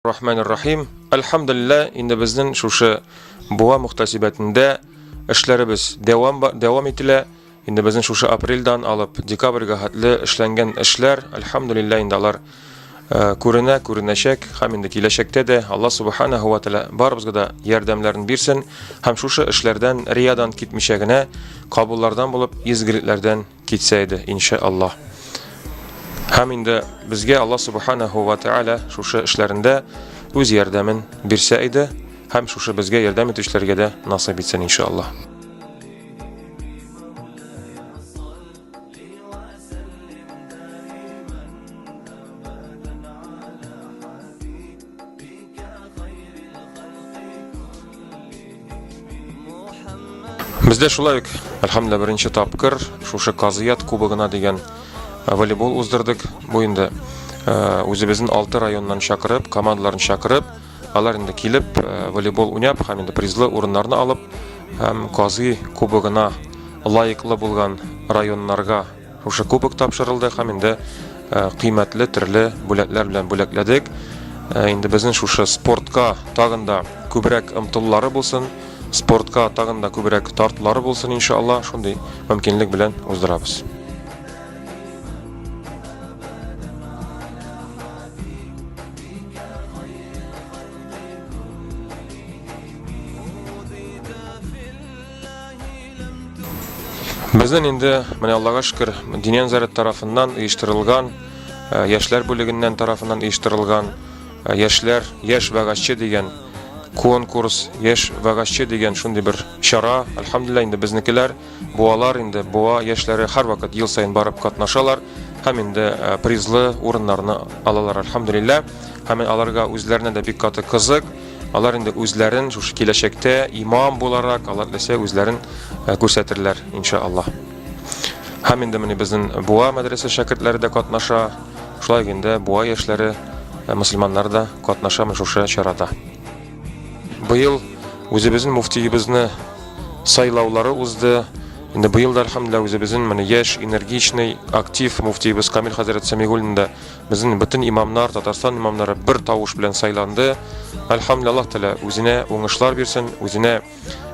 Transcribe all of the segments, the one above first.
Рахманир Рахим. Әлхәмдулилла, инде безнең шушы буа мөхтәсибәтендә эшләребез дәвам дәвам ителә. Инде безнең шушы апрельдан алып декабрьгә хәтле эшләнгән эшләр, әлхәмдулилла, инде алар Э, күренә, күренәчәк, һәм инде киләчәктә дә Алла Субханаһу ва Тәала барыбызга да ярдәмнәрен бирсен һәм шушы эшләрдән, риядан китмичә генә кабуллардан булып, изгелекләрдән Китсә иде, иншә Аллаһ. Һәм инде безгә Аллаһ Субханаһу ва Тааля шушы эшләрендә үз ярдәмен бирсә иде, һәм шушы безгә ярдәм итүчеләргә дә насыйп итсен, иншә Аллаһ. Бездә шулай ук, әлхәмдүлилла, беренче тапкыр шушы Казыят кубогына дигән э, волейбол уздырдык. Бу инде э, үзебезнең алты районнан чакырып, командаларын чакырып, алар инде килеп э, волейбол уйнап һәм инде призлы урыннарны алып һәм Казый кубогына лаеклы булган районнарга Шушы кубок тапшырылды һәм инде кыйммәтле төрле бүләкләр белән бүләкләдек. Инде безнең шушы спортка тагын да күбрәк омтылулары булсын, спортка тагын да күбрәк тартулары булсын, иншалла, шундый мөмкинлек белән уздырабыз. Безнен инде, менә Аллага шкер, Динен Зарет тарафыннан иештырылган, э, яшьләр бүлегеннән тарафыннан иештырылган, э, яшьләр, яшь вәгазчы дигән конкурс, яшь вәгазчы дигән шундый бер чара, альхамдулилла инде безнекеләр, буалар инде, буа яшьләре һәр вакыт ел саен барып катнашалар, һәм инде э, призлы урыннарны алалар, альхамдулилла, һәм аларга үзләренә дә бик каты кызык, Алар инде үзләрен шушы киләчәктә имам буларак, алар теләсә үзләрен э, күрсәтерләр, иншаллаһ. Һәм инде менә безнең Буа мәдрәсә шәкертләре дә катнаша, шулай инде Буа яшьләре э, мусульманнар да катнаша менә шушы чарада. Быел үзебезнең муфтиебезне сайлаулары узды. Инде быел да, әлхәмдүлилләһ, үзебезнең менә яшь, энергичный, актив муфтиебез Камил хәзрәт Сәмигуллин да Безнең бөтен имамнар, Татарстан имамнары бер тавыш белән сайланды. Альхамдулилла Аллаһ Тәгалә үзенә уңышлар бирсен, үзенә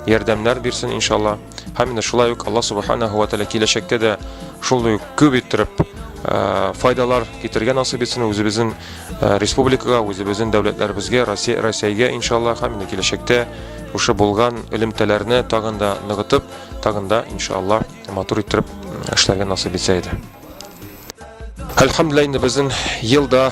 ярдәмнәр бирсен иншалла. Һәм инде шулай ук Аллаһ Субханаһу ва Тәгалә киләчәктә дә шул ук күп иттереп э, файдалар китергән насыйп итсен үзебезнең э, республикага, үзебезнең дәүләтләребезгә, Россия, Россиягә иншалла һәм инде киләчәктә шушы булган элемтәләрне тагын да ныгытып, тагын да иншалла матур иттереп эшләргә насыйп итсә иде. Әлхәмдүлилла инде безнең елда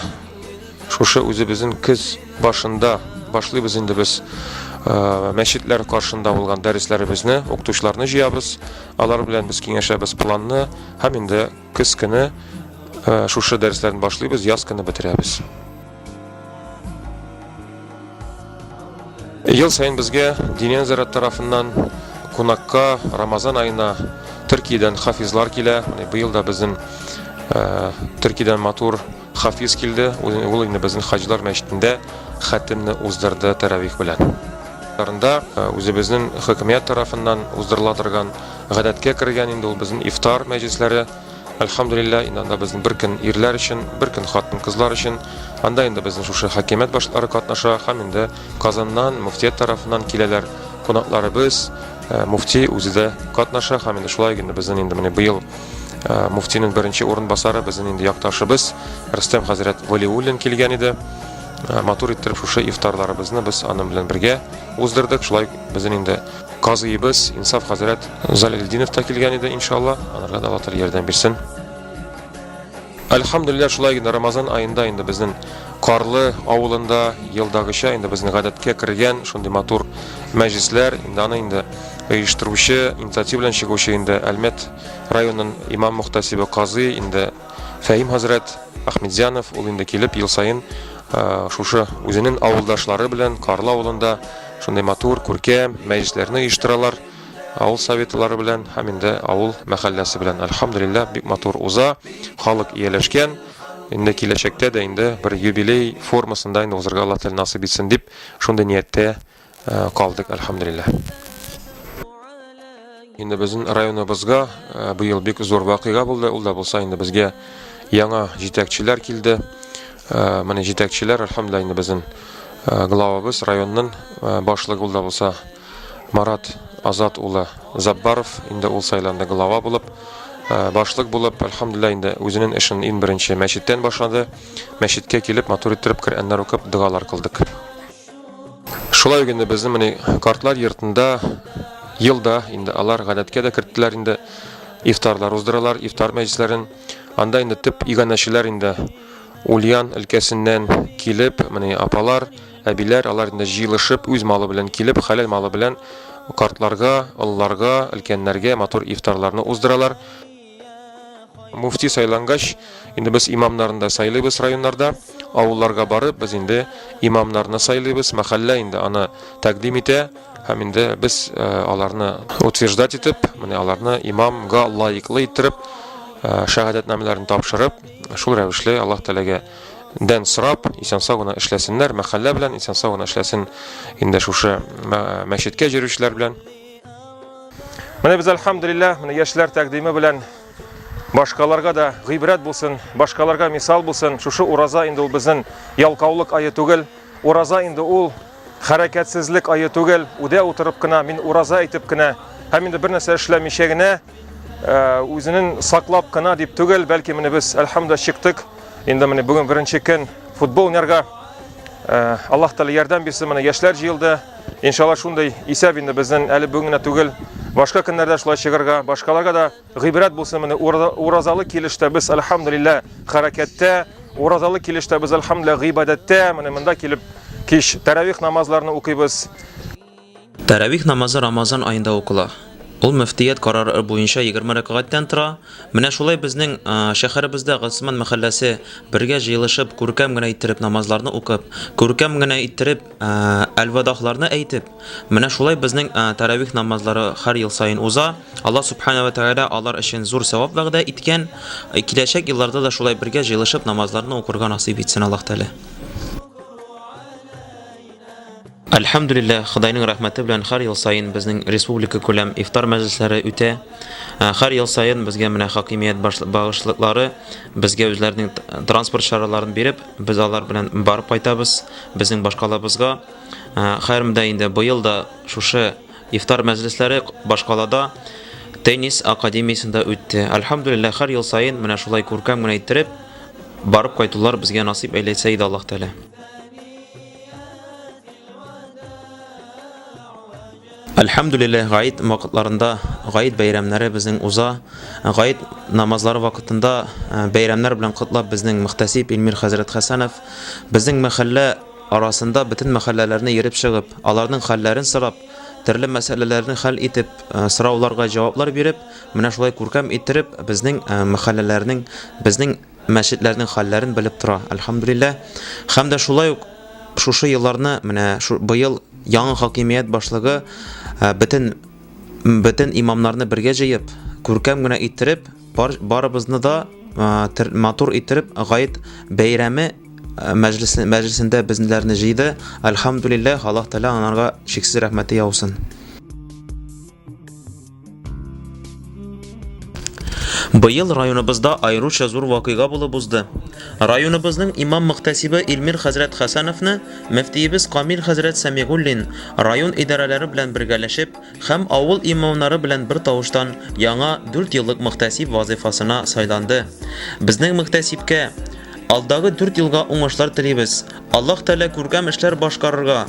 шушы үзебезнең көз башында башлыйбыз инде без э, мәчетләр каршында булган дәресләребезне, укытучыларны җыябыз. Алар белән без киңәшәбез планны һәм инде көз көне э, шушы дәресләрне башлыйбыз, яз көне бетерәбез. Ел саен безгә Диния нәзарәт тарафыннан кунакка Рамазан аена Төркиядән хафизлар килә. Менә быел да безнең э, Төркиядән матур хафиз килде. Ул инде безнең хаҗлар мәчетендә хәтемне уздырды тәравих белән. Тарында э, үзебезнең хөкүмәт тарафыннан уздырыла торган гадәткә кергән инде ул безнең ифтар мәҗлесләре. Әлхәмдүлилләһ, инде анда безнең бер көн ирләр өчен, бер көн хатын-кызлар өчен. Анда инде безнең шушы хакимият башлары катнаша һәм инде Казаннан, мөфтият тарафыннан киләләр кунакларыбыз, э, муфти үзе дә катнаша һәм инде шулай инде безнең инде менә быел э, муфтинең беренче урынбасары безнең инде якташыбыз Рөстәм хәзрәт Валиуллин килгән иде. Э, матур иттереп шушы ифтарларыбызны без аның белән бергә уздырдык. Шулай безнең инде Казыйыбыз Инсаф хәзрәт Залилдинов та килгән иде, иншалла. Аларга да Аллаһ ярдәм бирсен. Әлхәмдулилләһ, шулай инде Рамазан аенда инде безнең Карлы авылында елдагыча инде безнең гадәткә кергән шундый матур мәҗлесләр, инде аны инде оештыручы, инициатива белән чыгучы инде Әлмәт районының имам мөхтәсибе Казый инде Фәһим хәзрәт Ахмедзянов ул инде килеп ел саен шушы үзенең авылдашлары белән Карлы авылында шундый матур, күркәм мәҗлесләрне оештыралар. Авыл советлары белән һәм инде авыл мәхәлләсе белән. Альхамдулиллаһ, бик матур уза. Халык ияләшкән. Инде киләчәктә дә инде бер юбилей формасында инде узарга Аллаһ Тәгалә насыйп итсен дип, шундый нияттә Ә, калдык, әлхәмдулилләһ. Инде безнең районыбызга ә, быел бик зур вакыйга булды. Ул да булса инде безгә яңа җитәкчеләр килде. Ә, менә җитәкчеләр, әлхәмдулилләһ, инде безнең ә, главабыз, районның ә, башлыгы ул да булса Марат Азат улы Заббаров, инде ул сайланды глава булып, ә, башлык булып, әлхәмдулилләһ, инде үзенең эшен иң беренче мәчеттән башлады. Мәчеткә килеп, матур иттереп Коръәннәр укып, догалар кылдык. Шулай генә безнең менә картлар йортында елда инде алар гадәткә дә керттеләр инде ифтарлар уздыралар, ифтар мәҗлесләрен. Анда инде төп иганәчеләр инде Ульян өлкәсеннән килеп, менә апалар, әбиләр, алар инде җыелышып, үз малы белән килеп, хәләл малы белән картларга, олыларга, өлкәннәргә матур ифтарларны уздыралар. Муфти сайлангач, инде без имамнарны да сайлыйбыз районнарда, авылларга барып, без инде имамнарны сайлыйбыз, мәхәллә инде аны тәкъдим итә, һәм инде без э, аларны утверждать итеп, менә аларны имамга лаеклы иттереп, э, шәһадәтнамәләрен тапшырып, шул рәвешле Аллаһ Тәгаләгә дән сорап, исән-сау гына эшләсеннәр, мәхәллә белән исән-сау гына эшләсен инде шушы мәчеткә җөрүчеләр белән. Менә без альхамдулиллах, менә яшьләр тәкъдиме белән башкаларга да гыйбрәт булсын, башкаларга мисал булсын. Шушы ураза инде ул безнең ялкаулык айы түгел. Ураза инде ул хәрәкәтсезлек айы түгел. Үдә утырып кына мин ураза әйтеп кенә һәм инде бер нәрсә эшләмичә генә үзенен саклап кына дип түгел, бәлки менә без әлхәмдә чыктык. Инде менә бүген беренче көн футбол уйнарга. Аллаһ Тәгалә ярдәм бирсен, менә яшьләр җыелды. Иншалла шундый исәп инде безнең әле бүген генә түгел, башка көннәрдә шулай чыгарга, башкаларга да гыйбрәт булсын. Менә уразалы килештә без әлхәмдулилла хәрәкәттә, уразалы килештә без әлхәмдулилла гыйбадәттә. Менә монда килеп кич тәравих намазларны укыйбыз. Тәравих намазы Рамазан аенда укыла. Ул мөфтият карары буенча 20 рәкагатьтән тора. Менә шулай безнең шәһәребездә Госман мәхәлләсе бергә җыелышып, күркәм генә иттереп намазларны укып, күркәм генә иттереп әлвадахларны әйтеп, менә шулай безнең тәравих намазлары һәр ел саен уза. Алла субхана ва тәгалә алар өчен зур савап вәгъдә иткән. Киләчәк елларда да шулай бергә җыелышып намазларны укырга насыйп итсен Аллаһ Тәгалә. Әлхәмдүлилләһ, Ходайның рәхмәте белән һәр ел саен безнең республика күләм ифтар мәҗлесләре үтә. Ә, Һәр ел саен безгә менә хакимият баш- багышлыклары безгә үзләренең т- транспорт чараларын биреп, без алар белән барып кайтабыз безнең башкалабызга. Ә, Хәерм дә инде быел да шушы ифтар мәҗлесләре к- башкалада теннис академиясендә үтте. Әлхәмдүлилләһ, һәр ел саен менә шулай күркәм генә иттереп барып кайтулар безгә насыйп әйләсә иде Аллаһ Тәгалә. Әлхәмдүлилләһ, гает вакытларында гает бәйрәмнәре безнең уза. Гает намазлары вакытында э, бәйрәмнәр белән котлап безнең мөхтәсиб Илмир хәзрәт Хәсәнов безнең мәхәллә арасында бөтен мәхәлләләрне йөреп чыгып, аларның хәлләрен сорап, төрле мәсьәләләрне хәл итеп, э, сорауларга җаваплар биреп, менә шулай күркәм иттереп безнең э, мәхәлләләрнең, безнең мәчетләрнең хәлләрен белеп тора, әлхәмдүлилләһ. Һәм дә шулай ук шушы елларны, менә шу, быел яңа хакимият башлыгы э, бөтен бөтен имамнарны бергә җыеп, күркәм генә иттереп, бар, барыбызны да э, матур иттереп гает бәйрәме э, мәҗлесендә безнеләрне җыйды. Әлхәмдүлилләһ, Аллаһ Тәгалә анарга чиксез рәхмәте яусын. Быел районыбызда аеруча зур вакыйга булып узды. Районыбызның имам-мөхтәсибе Илмир хәзрәт Хәсәновны мөфтиебез Камил хәзрәт Сәмигуллин район идарәләре белән бергәләшеп һәм авыл имамнары белән бер тавыштан яңа 4 еллык мөхтәсиб вазыйфасына сайланды. Безнең мөхтәсибкә алдагы 4 елга уңышлар телибез. Аллаһ Тәгалә күркәм эшләр башкарырга,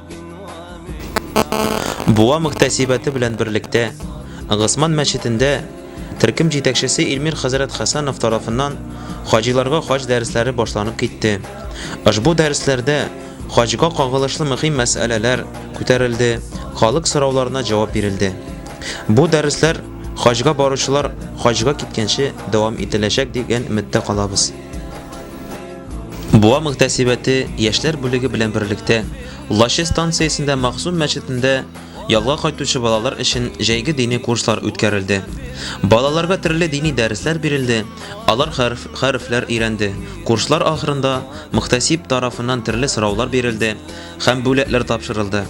Буа мөхтәсибәте белән берлектә Госман мәчетендә төркем җитәкчесе Илмир хәзрәт Хәсәнов тарафыннан хаҗиларга хаҗ дәресләре башланып китте. Ошбу дәресләрдә хаҗга кагылышлы мөһим мәсьәләләр күтәрелде, халык сорауларына җавап бирелде. Бу дәресләр хаҗга баручылар хаҗга киткәнче дәвам ителәчәк дигән өметтә калабыз. Буа мөхтәсибәте яшьләр бүлеге белән берлектә Лаче станциясендә Максум мәчетендә ялга кайтучы балалар өчен җәйге дини курслар үткәрелде. Балаларга төрле дини дәресләр бирелде, алар хәреф, хәрефләр өйрәнде. Курслар ахырында мөхтәсиб тарафыннан төрле сораулар бирелде һәм бүләкләр тапшырылды.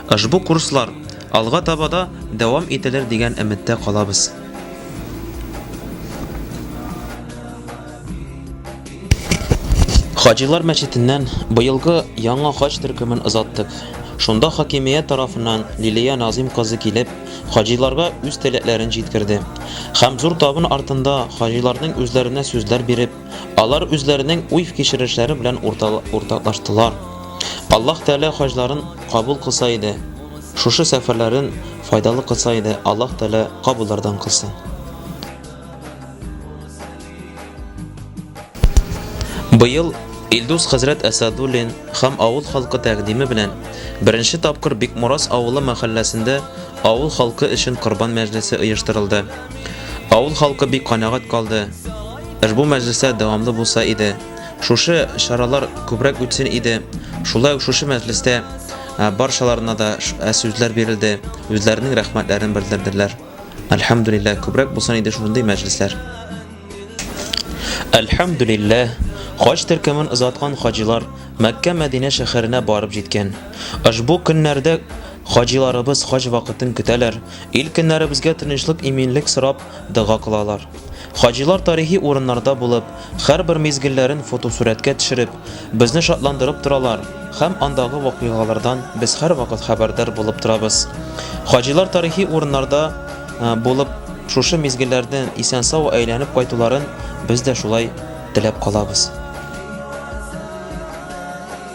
Ошбу курслар алга таба да дәвам ителер дигән өметтә калабыз. Хаҗилар мәчетеннән быелгы яңа хаҗ төркемен озаттык. Шунда хакимият тарафыннан Лилия Назим кызы килеп, хаҗиларга үз теләкләрен җиткерде. Һәм зур табын артында хаҗиларның үзләренә сүзләр биреп, Алар үзләренең уй-фкичерешләре белән уртаклаштылар. Аллаһ Тәгалә хаҗларын кабул кылса иде, шушы сәфәрләрен файдалы кылса иде, Аллаһ Тәгалә кабуллардан кылсын. Быел Илдус хәзрәт Әсәдуллин һәм авыл халкы тәкъдиме белән беренче тапкыр Бикморас авылы мәхәлләсендә авыл халкы өчен корбан мәҗлесе оештырылды. Авыл халкы бик канәгать калды. Ошбу мәҗлесләр дәвамлы булса иде, шушы чаралар күбрәк үтсен иде. Шулай ук шушы мәҗлестә баршаларына да сүзләр бирелде, үзләренең рәхмәтләрен белдерделәр. Әлхәмдүлилләһ, күбрәк булсын иде шундый мәҗлесләр. Әлхәмдүлилләһ, хаҗ төркемен озаткан хаҗилар Мәккә Мәдинә шәһәренә барып җиткән. Ошбу көннәрдә хаҗиларыбыз хаҗ вакытын көтәләр, Ил көннәребезгә тынычлык иминлек сорап дога кылалар. Хаҗилар тарихи урыннарда булып, хәрбер мизгелләрен фотосурәткә төшереп, безне шатландырып торалар һәм андагы вакыйгалардан без һәрвакыт хәбәрдар булып торабыз. Хаҗилар тарихи урыннарда булып шушы мизгелләрдән исән-сау әйләнеп кайтуларын без дә шулай теләп калабыз.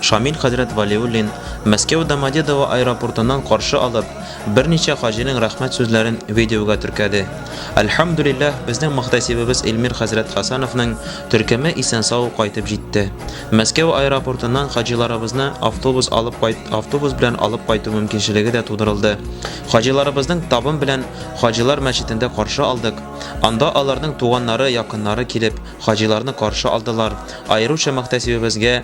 Шамил хәзрәт Вәлиуллин Мәскәү Домодедово аэропортыннан каршы алып, берничә хаҗиның рәхмәт сүзләрен видеога теркәде. Әлхәмдүлилләһ, безнең мөхтәсибебез Илмир хәзрәт Хәсәновның төркеме исән-сау кайтып җитте. Мәскәү аэропортыннан хаҗиларыбызны автобус алып кайт автобус белән алып кайту мөмкинчелеге дә тудырылды. Хаҗиларыбызның табын белән Хаҗилар мәчетендә каршы алдык. Анда аларның туганнары, якыннары килеп, хаҗиларны каршы алдылар, аеруча мөхтәсибебезгә,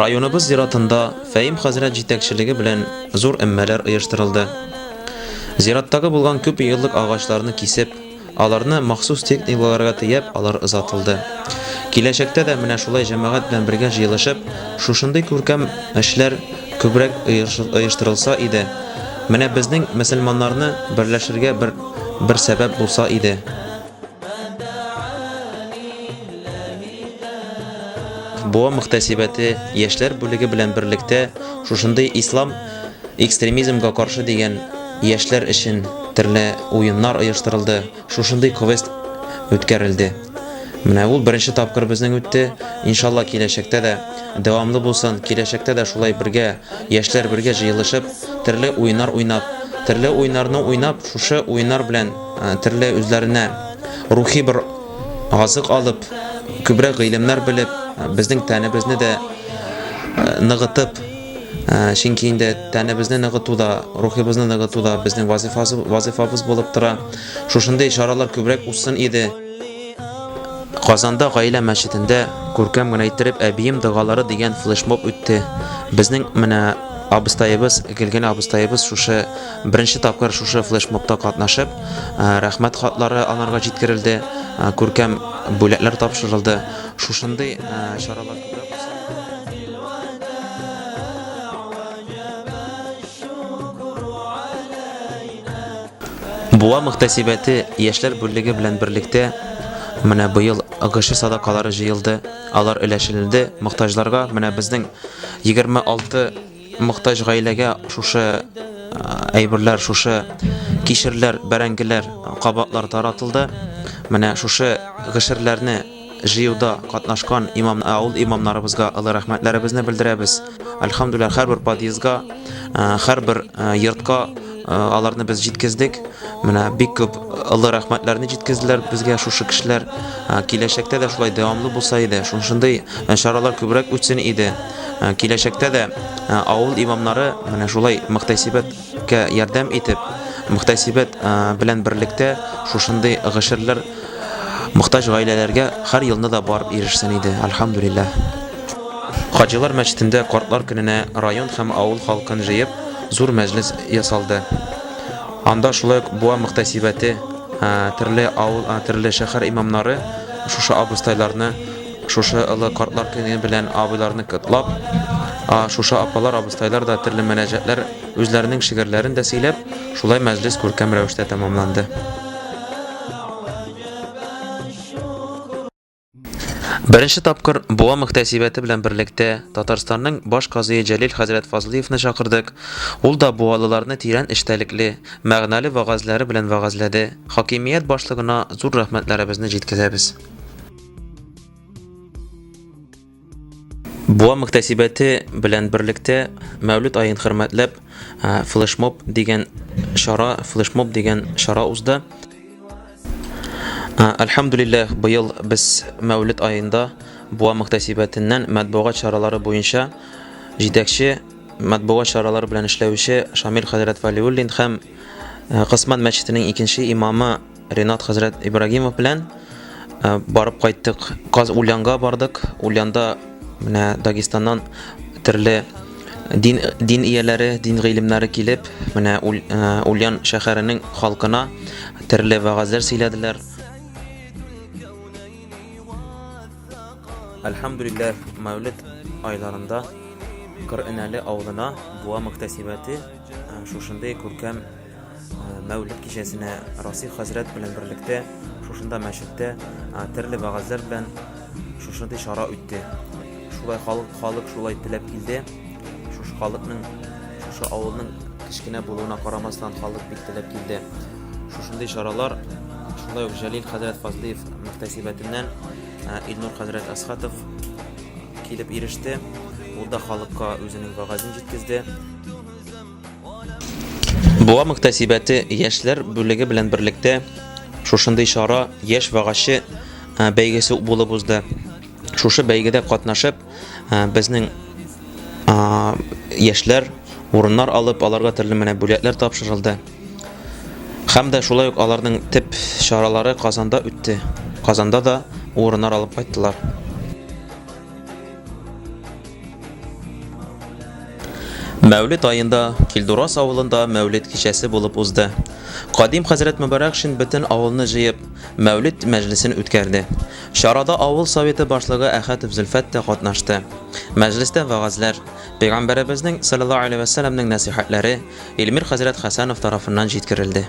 Районыбыз зиратында Фәим хәзрәт җитәкчелеге белән зур эммәләр оештырылды. Зираттагы булган күп еллык агачларны кисеп, аларны махсус техникаларга тияп, алар озатылды. Киләчәктә дә менә шулай җәмәгать белән бергә җыелышып, шушындый күркәм эшләр күбрәк оештырылса иде. Менә безнең мөселманнарны берләшергә бер бер сәбәп булса иде. Буа мөхтәсибәте яшьләр бүлеге белән берлектә шушындый ислам экстремизмга каршы дигән яшьләр өчен төрле уеннар оештырылды. Шушындый квест үткәрелде. Менә ул беренче тапкыр безнең үтте. Иншалла киләчәктә дә дәвамлы булсын. Киләчәктә дә шулай бергә, яшьләр бергә җыелышып, төрле уеннар уйнап, төрле уеннарны уйнап, шушы уеннар белән э, төрле үзләренә рухи бер азык алып, күбрәк гыйлемнәр белеп, э, безнең тәнебезне дә э, ныгытып, Чөнки инде тәнебезне ныгыту да, рухыбызны ныгыту да безнең вазифабыз булып тора. Шушындый чаралар күбрәк узсын иде. Казанда Гаилә мәчетендә күркәм генә иттереп Әбием догалары дигән флешмоб үтте. Безнең менә абыстаебыз, Гөлгенә абыстаебыз шушы беренче тапкыр шушы флешмобта катнашып, рәхмәт хатлары анарга җиткерелде, күркәм бүләкләр тапшырылды. Шушындый чаралар Буа мөхтәсибәте яшьләр бүлеге белән берлектә менә быел ГШ садакалары җыелды, алар өләшенелде мохтаҗларга. Менә безнең 26 мохтаҗ гаиләгә шушы әйберләр, шушы кишерләр, бәрәңгеләр, кабатлар таратылды. Менә шушы гшрләрне Җыюда катнашкан имам авыл имамнарыбызга олы рәхмәтләребезне белдерәбез. Альхамдулилла һәрбер подъездга, һәрбер йортка аларны без җиткездек. Менә бик күп олы рәхмәтләрне җиткезделәр безгә шушы кешеләр. Киләчәктә дә шулай дәвамлы булса иде, шушындый чаралар күбрәк үтсен иде. Киләчәктә дә авыл имамнары менә шулай мөхтәсибәт Кә ярдәм итеп, мөхтәсибәт белән берлектә шушындый гашерләр мохтаҗ гаиләләргә һәр елны да барып ирешсен иде, әлхәмдүлилләһ. Хаҗилар мәчетендә картлар көненә район һәм авыл халкын җыеп, зур мәҗлес ясалды. Анда шулай ук Буа мөхтәсибәте, төрле авыл, төрле шәһәр имамнары шушы абыстайларны, Шушы олы картлар көне белән абыйларны котлап, шушы апалар, абыстайлар да төрле мөнәҗәтләр, үзләренең шигырьләрен дә сөйләп, шулай мәҗлес күркәм рәвештә тәмамланды. Беренче тапкыр Буа мөхтәсибәте белән берлектә Татарстанның баш казые Җәлил хәзрәт Фазлыевны чакырдык. Ул да буалыларны тирән эчтәлекле, мәгънәле вәгазьләре белән вәгазьләде. Хакимият башлыгына зур рәхмәтләребезне җиткезәбез. Буа мөхтәсибәте белән берлектә Мәүлид аен хөрмәтләп флешмоб дигән чара, флешмоб дигән чара узды. Альхамдулиллах, быел без Мәүлид аенда Буа мөхтәсибәтеннән матбугат чаралары буенча җитәкче матбугат чаралары белән эшләүче Шамил хәзрәт Валиуллин һәм Кысман мәчетенең икенче имамы Ренат хәзрәт Ибрагимов белән э, барып кайттык. Каз Ульянга бардык. Ульянда менә Дагестаннан төрле дин, дин ияләре, дин гыйлемнәре килеп, менә э, Ульян шәһәренең халкына төрле вәгазьләр сөйләделәр. Әлхәмдүлилләһ, Мәүлид айларында Кырынәле авылына буа мөхтәсибәте э, шушындый күркәм Мәүлид кичәсенә Расих хәзрәт белән берлектә шушында мәчеттә төрле вәгазьләр белән шушындый чара үтте. Шулай халык халык шулай теләп килде. Шушы халыкның шушы авылның кечкенә булуына карамастан халык бик теләп килде. Шушындый чаралар шулай ук Җәлил хәзрәт Фазлиев мөхтәсибәтеннән Илнур хәзрәт Асхатов килеп иреште. Ул да халыкка үзенең вәгазен җиткезде. Буа мөхтәсибәте яшьләр бүлеге белән берлектә шушындый чара яшь вагачы бәйгесе булып узды. Шушы бәйгедә катнашып, безнең яшьләр урыннар алып, аларга төрле менә бүләкләр тапшырылды. Хәм дә шулай ук аларның тип чаралары Казанда үтте. Казанда да урыннар алып кайттылар. Мәүлет айында Килдурас авылында мәүлет кичәсе булып узды. Кадим хәзрәт Мөбарәкшин бөтен авылны җыеп, мәүлет мәҗлесен үткәрде. Чарада авыл советы башлыгы Әхәтов Зөлфәт тә катнашты. Мәҗлестә вәгазьләр, пәйгамбәребезнең саллаллаһу алейһи вәсәлләмнең нәсыйхәтләре Илмир хәзрәт Хәсәнов тарафыннан җиткерелде.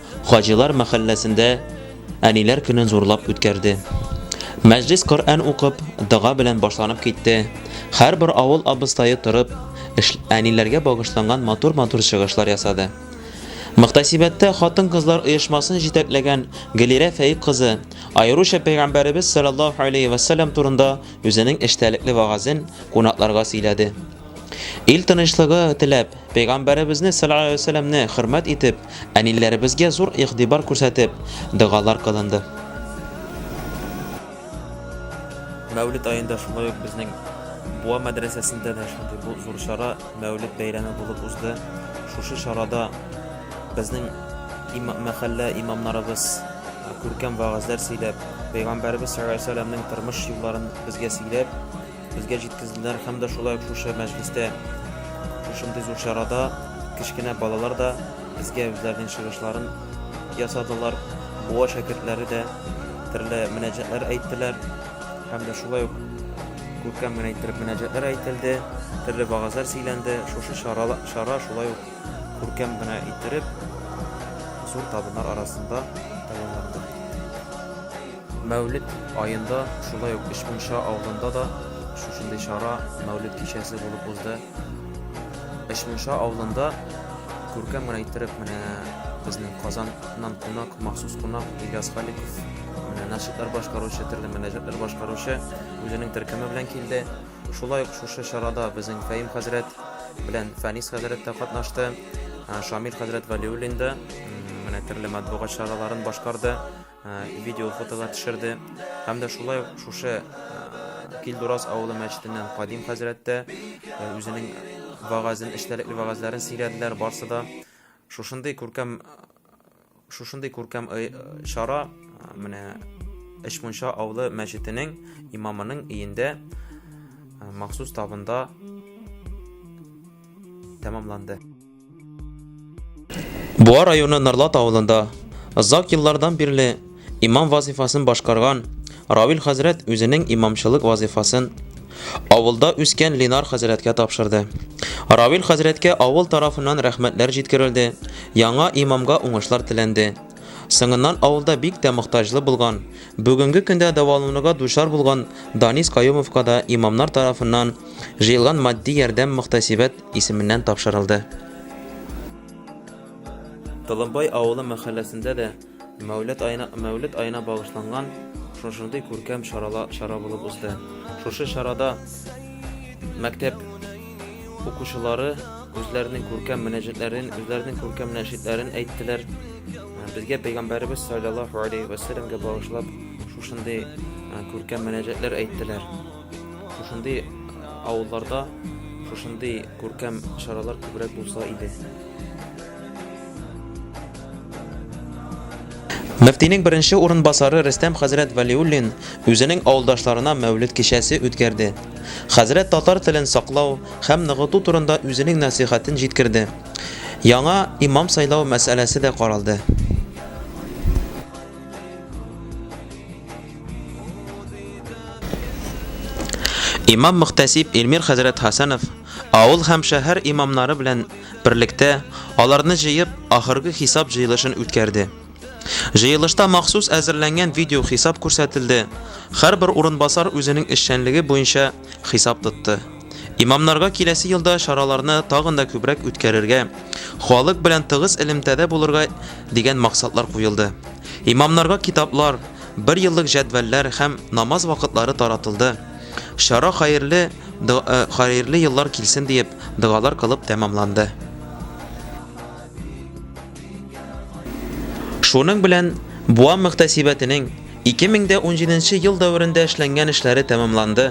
Хаҗилар мәхәлләсендә Әниләр көнен зурлап үткәрде. Мәҗлес Коръән укып, дога белән башланып китте. Һәрбер авыл абыстае торып, әниләргә багышланган матур-матур чыгышлар ясады. Мөхтәсибәттә хатын-кызлар оешмасын җитәкләгән Гөлирә Фәик кызы аеруча Пәйгамбәребез саллаллаһу алейһи вә сәлләм турында үзенең эчтәлекле вәгазен кунакларга сөйләде. Ил тынычлыгы теләп, Пәйгамбәребезне саллаллаһу алейһи ва сәлләмне хөрмәт итеп, әниләребезгә зур игътибар күрсәтеп, догалар кылынды. Мәүлид аенда шулай ук безнең Буа мәдрәсәсендә дә шундый бу зур чара, Мәүлид бәйрәме булып узды. Шушы чарада безнең има, мәхәллә имамнарыбыз күркәм вәгазьләр сөйләп, Пәйгамбәребез саллаллаһу алейһи ва сәлләмнең тормыш юлларын безгә сөйләп, Безгә җиткезделәр һәм дә шулай ук шушы мәҗлестә, шушындый зур чарада кечкенә балалар да безгә үзләренең чыгышларын ясадылар. Буа шәкертләре дә төрле мөнәҗәтләр әйттеләр һәм дә шулай ук күркәм генә иттереп мөнәҗәтләр әйтелде, төрле вагазлар сөйләнде. Шушы чара, чара шулай ук күркәм генә иттереп зур табыннар арасында тәмамланды. Мәүлет аенда, шулай ук Өч Мунча авылында да шушындый чара Мәүлет кичәсе булып узды. Өч Мунча авылында күркәм генә иттереп менә безнең Казаннан кунак, махсус кунак Ильяс Халиков менә нашидлар башкаручы, төрле мөнәҗәтләр башкаручы үзенең төркеме белән килде. Шулай ук шушы чарада безнең Фәим хәзрәт белән Фәнис хәзрәт тә катнашты. Шамил хәзрәт Валиуллин да менә төрле матбугат чараларын башкарды. видео фотолар төшерде һәм дә шулай ук шушы Килдурас авылы мәчетеннән Кадим хәзрәт тә үзенең вагазын, эчтәлекле вагазларын сөйләделәр барсы да. Шушындый күркәм шушындый күркәм чара менә Эшмунча авылы мәчетенең имамының өендә махсус табында тәмамланды. Буа районы Нарлат авылында озак еллардан бирле имам вазифасын башкарган Равил хәзрәт үзенең имамчылык вазифасын авылда үскән Ленар хәзрәткә тапшырды. Равил хәзрәткә авыл тарафыннан рәхмәтләр җиткерелде, яңа имамга уңышлар теләнде. Соңыннан авылда бик тә мохтаҗлы булган, бүгенге көндә дәвалануга дучар булган Данис Каюмовка да имамнар тарафыннан җыелган матди ярдәм мөхтәсибәт исеменнән тапшырылды. Толымбай авылы мәхәлләсендә дә Мәүлет аена Мәүлет аена багышланган шушындый күркәм чарала чара булып узды. Шушы чарада мәктәп укучылары үзләренең күркәм мөнәҗәтләрен, үзләренең күркәм нәшидләрен әйттеләр. Безгә пәйгамбәребез саллаллаһу алейһи вәсәлләмгә багышлап шушындый күркәм мөнәҗәтләр әйттеләр. Шушындый авылларда шушындый күркәм чаралар күбрәк булса иде. Мөфтинең беренче урынбасары Рөстәм хәзрәт Вәлиуллин үзенең авылдашларына Мәүлид кичәсе үткәрде. Хәзрәт татар телен саклау һәм ныгыту турында үзенең нәсыйхәтен җиткерде. Яңа имам сайлау мәсьәләсе дә каралды. Имам Мөхтәсиб Эльмир хәзрәт Хасанов авыл һәм шәһәр имамнары белән берлектә аларны җыеп, ахыргы хисап җыелышын үткәрде. Җыелышта махсус әзерләнгән видео хисап күрсәтелде. Һәрбер урынбасар үзенең эшчәнлеге буенча Хисап тотты. Имамнарга киләсе елда чараларны тагын да күбрәк үткәрергә, халык белән тыгыз элемтәдә булырга дигән максатлар куелды. Имамнарга китаплар, бер еллык җәдвәлләр һәм намаз вакытлары таратылды. Чара хәерле, э, хәерле еллар килсен диеп, догалар кылып тәмамланды. Шуның белән Буа мөхтәсибәтенең 2017 ел дәверендә эшләнгән эшләре тәмамланды.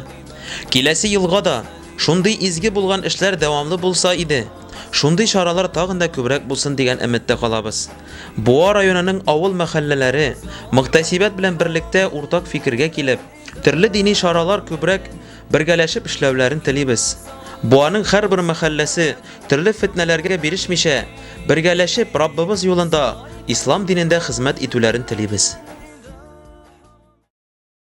Киләсе елга да шундый изге булган эшләр дәвамлы булса иде, шундый чаралар тагын да күбрәк булсын дигән өметтә калабыз. Буа районының авыл-мәхәлләләре мөхтәсибәт белән берлектә уртак фикергә килеп, төрле дини чаралар күбрәк Бергәләшеп эшләүләрен телибез. Буаның һәрбер мәхәлләсе төрле фетнәләргә бирешмичә, бергәләшеп Раббыбыз юлында, Ислам динендә хезмәт итүләрен телибез.